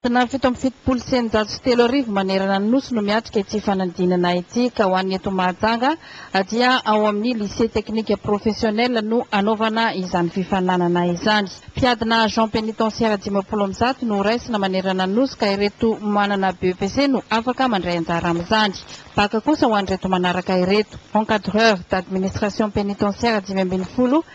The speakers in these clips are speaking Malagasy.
Tonà fito amby fitopolo sy eninjato sy telo arivo manerana ny Nosy no miatrika ity fanadinana ity ka ho an'ny eto Mahajanga dia ao amin'ny Lycée Technique Professionnel no hanaovana izany fifaninanana izany. Mpiadina Agent Pénitentiaire dimampolo amby zato no horaisina manerana ny Nosy ka ireto manana BEPC no afaka mandray anjara amin'izany. Bacc kosa ho an'ireto manaraka ireto, Encadreur d'Administration Pénitentiaire dimy ambin'ny folo,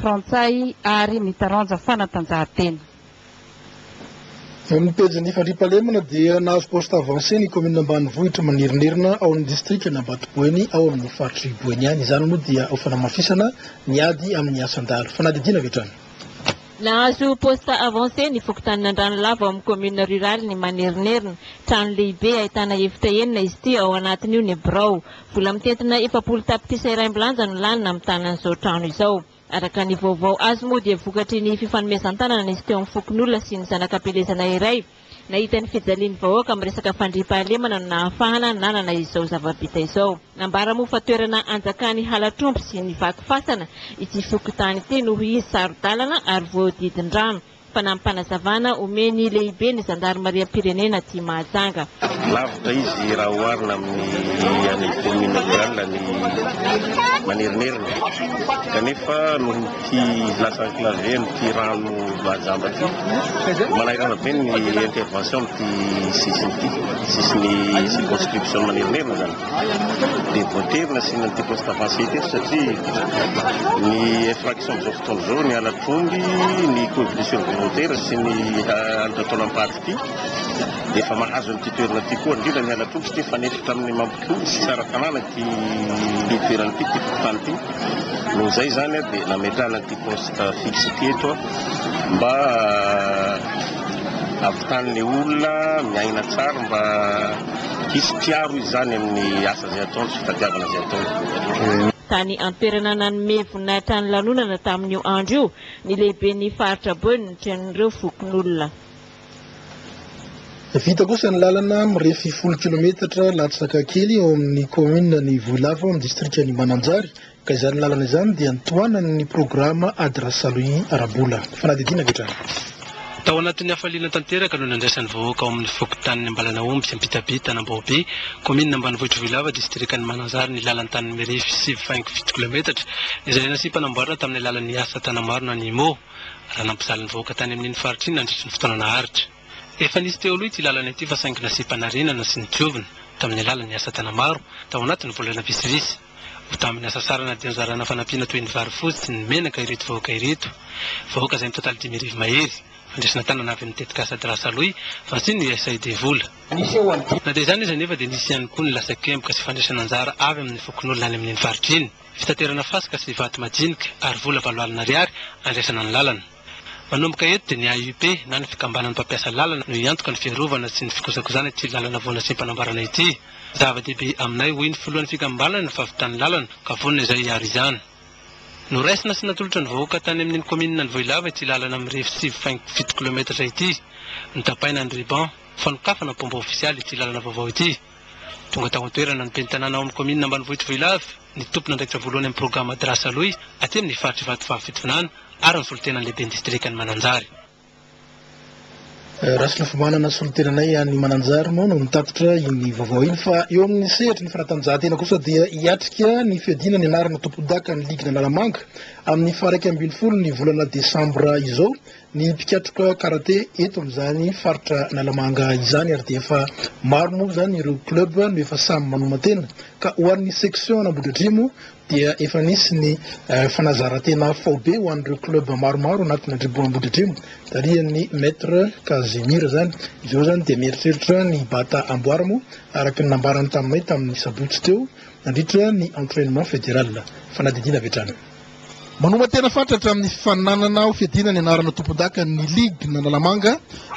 Frantsay ary ny taranja fanatanjahantena. Eo amin'ny pejin'ny fandriampahalemana dia nahazo poste avancé ny kaominina ambanivohitra Manerinerina ao amin'ny distrikan'i Ambatoboeny ao amin'ny faritr'i Boeny ihany. Izany moa dia ho fanamafisana ny ady amin'ny asan-dahalo. Fanadihadiana avy hatrany. Nahazo poste avancé ny fokontanin'Andranolava ao amin'ny kaominina ruralin'i Manerinerina. Trano lehibe ahitana efitra enina izy ity ao anatin'io ny birao, Vola mitentina efapolo tapitrisa iray milanja no lany namitana an'izao trano izao. Araka ny vaovao azo moa dia vokatry ny fifanomezan-tanana nisy teo amin'ny fokonolona sy ny zanak'ampielezana iray nahita ny fijalian'ny vahoaka amin'ny resaka fandriampahalemana no nahafahana nanana izao zava-bita izao. Nambara moa fa toerana hanjakan'ny halatr'omby sy ny vaky fasana ity fokontany ity noho izy saro-dalana ary voahodidin-drano. Fanampim-panazavana omen'ny lehiben'ny zandarimariam-pirenena aty Mahajanga. Lavitra izy raha oharina amin'ny any kaominina rurale any Manerinerina. Kanefa noho ity glace enclavée amin'ity rano mahajamba ity, manahirana be ny intervention amin'ity sisiny ity, sisin'ny circonscription Manerinerina izany. dia voatery nasiana an'ity poste avancé ity satria ny infraction amin'izao fotoana izao ny halatr' omby, ny coefficient volontaire sy ny halatra taolam-paty ity dia efa mahazo an'ity toerana ity koa, indrindra ny halatr' omby satria mifanefitra amin'ny Ambohipo sy Tsaratanàna ity toerana ity, ity fokontany ity. Noho izay izany dia nametrahana ity poste fixe ity eto mba havitan'ny olona miaina tsara mba. Hisy mpiaro izany amin'ny asa izay ataony sy fitadiavana izay ataony. Tany an-toerana nanome voninahitra ny lanonana tamin'io andro io ny lehiben'ny faritra Beaune trenin'ireo fokonolona. Vita kosa ny lalana mirefy folo kilometatra latsaka kely ao amin'ny kaominina ny Vohilava ao amin'ny distrikan'i Mananjary Ka izany lalana izany dia nitohanany ny programa Ady Rasalwhy ara-bola. Fanadihadiana avy hatrany. Tao anatin'ny hafaliana tanteraka no nandraisan'ny vahoaka ao amin'ny fokontanin'i Ambalanahomby sy Ampitabia, Tanambao-Be, kaominina ambanivohitr'i Vohilava, distrikan'i Mananjary ny lalan-tanin'i Mirify sivy faingo fito kilaometatra izay nasiam-panamboarana tamin'ny alalan'ny Asa Tana-Marina an'i Immo, raha nampijaly ny vahoaka tany amin'iny faritra iny nandritry ny fotoana naharitra. Efa nisy teo aloha ity lalana ity fa saingy nasiam-panarenana sy nodiovina tamin'ny alalan'ny Asa Tana-Maro tao anatin'ny volana vitsivitsy. Ho tamin'ny asa sarana dia nozarana fanampiana toy ny vary fotsy sy ny menaka ireto vahoaka ireto. Vahoaka izay mitotaly dimy arivo mahery. Fandraisana tanana avy amin'ny tetikasa Drasa Loy, fantson'ny USAID vola. Na dia izany aza anefa dia nisy ihany koa ny lasakemboka sy fandraisana anjara avy amin'ny fokonolona any amin'iny faritra iny. Fitaterana fasika sy vato madinika ary vola valo alina ariary andraisana ny lalana. Manomboka eto dia ny AUP na ny fikambanan'ny mpampiasa lalana no hiantoka ny fiarovana sy ny fikojakojana ity lalana vao nasiam-panambarana ity. Zava-dehibe aminay, hoy ny filohan'ny fikambanana ny fahavitan'ny lalana ka vonona izay hiaro izany. Noraisina sy natolotra ny vahoaka tany amin'iny kaominina Anvohilava ity lalana mirefy sivy faingo fito kilometatra ity. Notapaina ny ruban fanokafana mpomba ofisialy ity lalana vaovao ity. Tonga tao an-toerana ny ben'ny tanàna ao amin'ny kaominina ambanivohitr'i Vohilavy, ny tompon'andraikitra voalohany amin'ny programa Madrasa Aloy aty amin'ny faritr'i Vatovavy Fitovinany ary ny solontenan'ny lehiben'ny distrikan'i Mananjary. Rasonafimanana, solontenanay any Mananjary moa no nitatitra iny vaovao iny fa eo amin'ny sehatry ny fanatanjahantena kosa dia hiatrika ny fiadiana ny anarana tompondakan'ny ligin'Analamanga amin'ny faha-iraika ambin'ny folo ny volana desambra izao Ny mpikatroka karate eto amin'izany faritra Analamanga izany ary dia efa maro moa izany ireo club no efa samy manoman-tena ka ho an'ny section an'Ambohidratrimo dia efa nisy ny fanazaran-tena faobe ho an'ireo club maromaro anatin'ny tribo Ambohidratrimo tarihan'ny Maître Casimir izany. Izao izany dia mieritreritra ny bata amboara moa araka ny nambarany taminay tamin'ny sabotsy teo nandritra ny entrainement fédéral. Fanadihadiana avy hatrany. Manoma tena fatratra amin'ny fifaninanana ho fiadiana ny anarana tompondaka ny Ligna Analamanga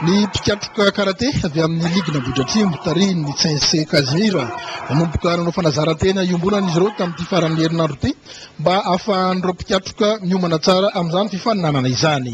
ny mpikatroka karate avy amin'ny Ligna Ambohidratrimo tarihin'ny Tsensé Casimir. Nanomboka nanao fanazaran-tena iombonana izy ireo tamin'ity faran'ny herinandro ity mba hahafahan'ireo mpikatroka miomana tsara amin'izany fifaninanana izany.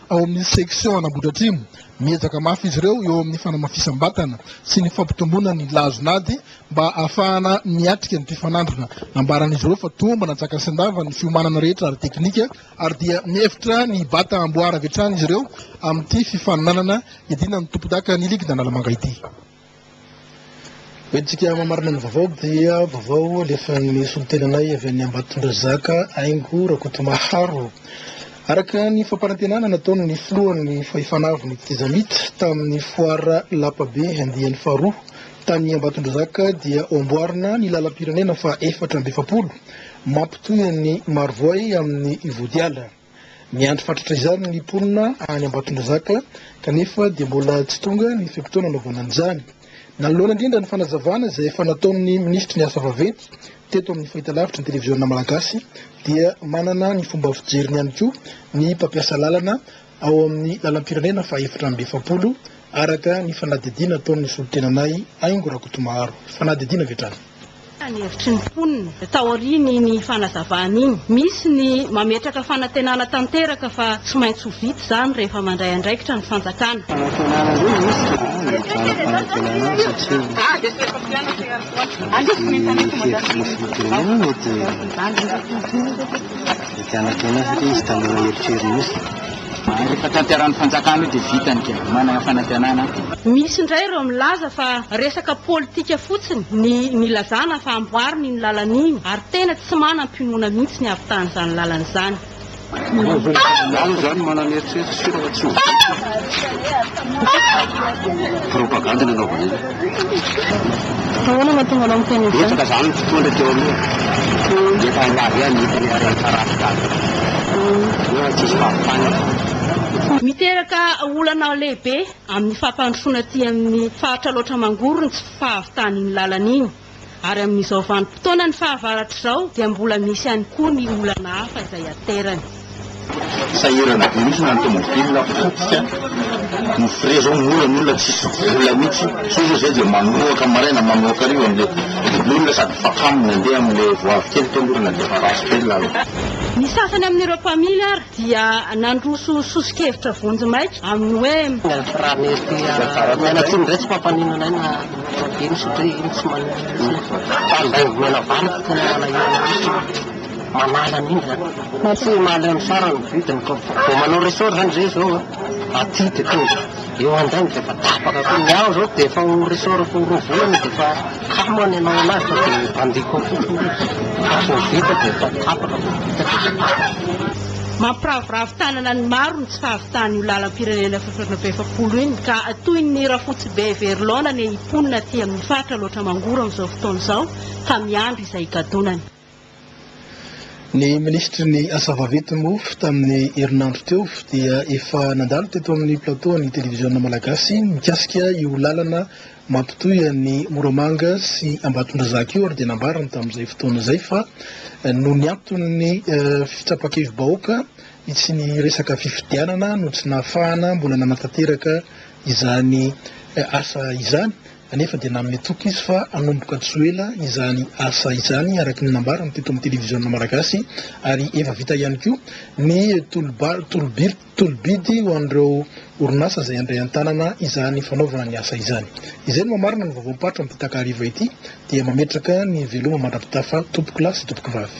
Ao amin'ny section Anambohidratrimo, miezaka mafy izy ireo eo amin'ny fanamafisam-batana sy ny fampitomboana ny lazon'ady mba hahafahana miatrika ny mpifanandrina. Nambaran'izy ireo fa toa mba natsaka sendava ny fiomanana rehetra ara-teknika ary dia mihevitra ny bata hamboara avy hatrany izy ireo amin'ity fifaninanana iadiana amin'ny tompondaka ny ligin'Analamanga ity. Hoentintsika hamamarana ny vaovao dia vaovao alefan'ny solontenanay avy any Ambatondrazaka, Haingo Rakotomaharo. Araka ny fampanantenana nataony ny filohan'ny fahefana avo ny Tizamit tamin'ny foara lapabe andiany faharoa tany Ambatondrazaka dia ho amboarina ny lalam-pirenena faha efatra amby efapolo mampitohy an'i Marovoay amin'ny Vodiala. Miandry fatratra izany ny mponina any Ambatondrazaka kanefa dia mbola tsy tonga ny fe-potoana anaovana an'izany. Nanoloana indrindra ny fanazavana izay efa nataon'ny minisitry ny asa vaventy teto amin'ny fahitalavitry ny televiziona malagasy dia manana ny fomba fijeriny ihany koa ny mpampiasa lalana ao amin'ny lalam-pirenena fahaefatra amby efapolo araka ny fanadihadiana ataon'ny solontenanay Haingo Rakotomaharo. Fanadihadiana avy hatrany. Inona ny hevitry ny mponina taorian'iny fanazavana iny? Misy ny mametraka fanantenana tanteraka fa tsy maintsy ho vita izany rehefa mandray andraikitra ny fanjakana. Ary rehefa tanteran'ny fanjakana io dia vita ny game, manana fanantenana. Misy indray ireo milaza fa resaka politika fotsiny ny nilazana fa amboarina iny lalana iny ary tena tsy manam-pinoana mihitsy ny havitan'izany lalana izany. Ianao izany manana eritreritra sy finoana tsy ho vita. Propagandy no anaovana eny. Ahoana no hahatonga anao miteny izany? Betsaka izany ny mpitondra teo aloha, dia efa nilaza hoe hanita ny harena tsaratsara, nefa tsisy fahavitana. Miteraka olana lehibe amin'ny fampandrosoana aty amin'ny faritra Alaotra Mangoro ny tsy fahavitan'iny lalana iny. ary amin'izao vanim-potoanan'ny fahavaratra izao dia mbola misy ihany koa ny olana hafa izay aterany. Sahirana be mihitsy na ny tomobilina potika ny frein zao mora ny olona tsisy vola mihitsy sao zao zay dia manoaka maraina manoaka hariva amle double olona sady fakamo ny andeha amle voavy kely teo aloha raha nandeha fa ratsy be ny lalana. Ny sasany amin'ireo mpamily ary dia nandroso soso-kevitra vonjimaika amin'ny hoe. Raha mety omena tsiny indray tsy mpampaninona anay na ino satria iny tsy manino mihitsy fa raha indray omena vary fa tena manahirana mihitsy manala an'iny izany. Tsy mahaleo ny sarany ny vidiny koa vao manao ressort izany izay izao aty dia tonga eo andrainy dia efa tapaka koa. Ny ahy izao dia efa ho ressort-ko roa volana dia efa. Tsaho moa ny hanao anazy fa dia bandy koa fotsiny izy. Fa vao vita dia efa tapaka, vao vita dia efa tapaka. Mampiraviravy tanana ny maro ny tsy fahavitany io lalam-pirenena fototram-be efapolo iny ka toy ny rafotsibe very laona anie hiponina aty amin'ny faritra Alaotra Mangoro amin'izao fotoana izao ka miandry izay higadonany. Ny minisitry ny Asa vaventy mofo tamin'ny herinandro teo dia efa nandalo teto amin'ny plateau an'ny televiziona malagasy mikasika io lalana mampitohy an'i Moramanga sy Ambatondrazaka io ary dia nambarany tamin'izay fotoana izay fa noho ny anton'ny fitsapan-kevi-bahoaka sy ny resaka fifidianana no tsy nahafahana mbola nanatanteraka izany asa izany. anefa dia nanome toky izy fa hanomboka tsy ho ela izany asa izany araka ny nambarany teto amin'ny televiziona malagasy ary efa vita ihany koa ny tolobitolobidy ho an'ireo orinasa izay handray an-tanana izany fanaovana ny asa izany izay no mamarina ny vaovaom-paritra amin'ity takariva ity dia mametraka ny veloma mandra-pitafa tompokolahy sy tompokivavy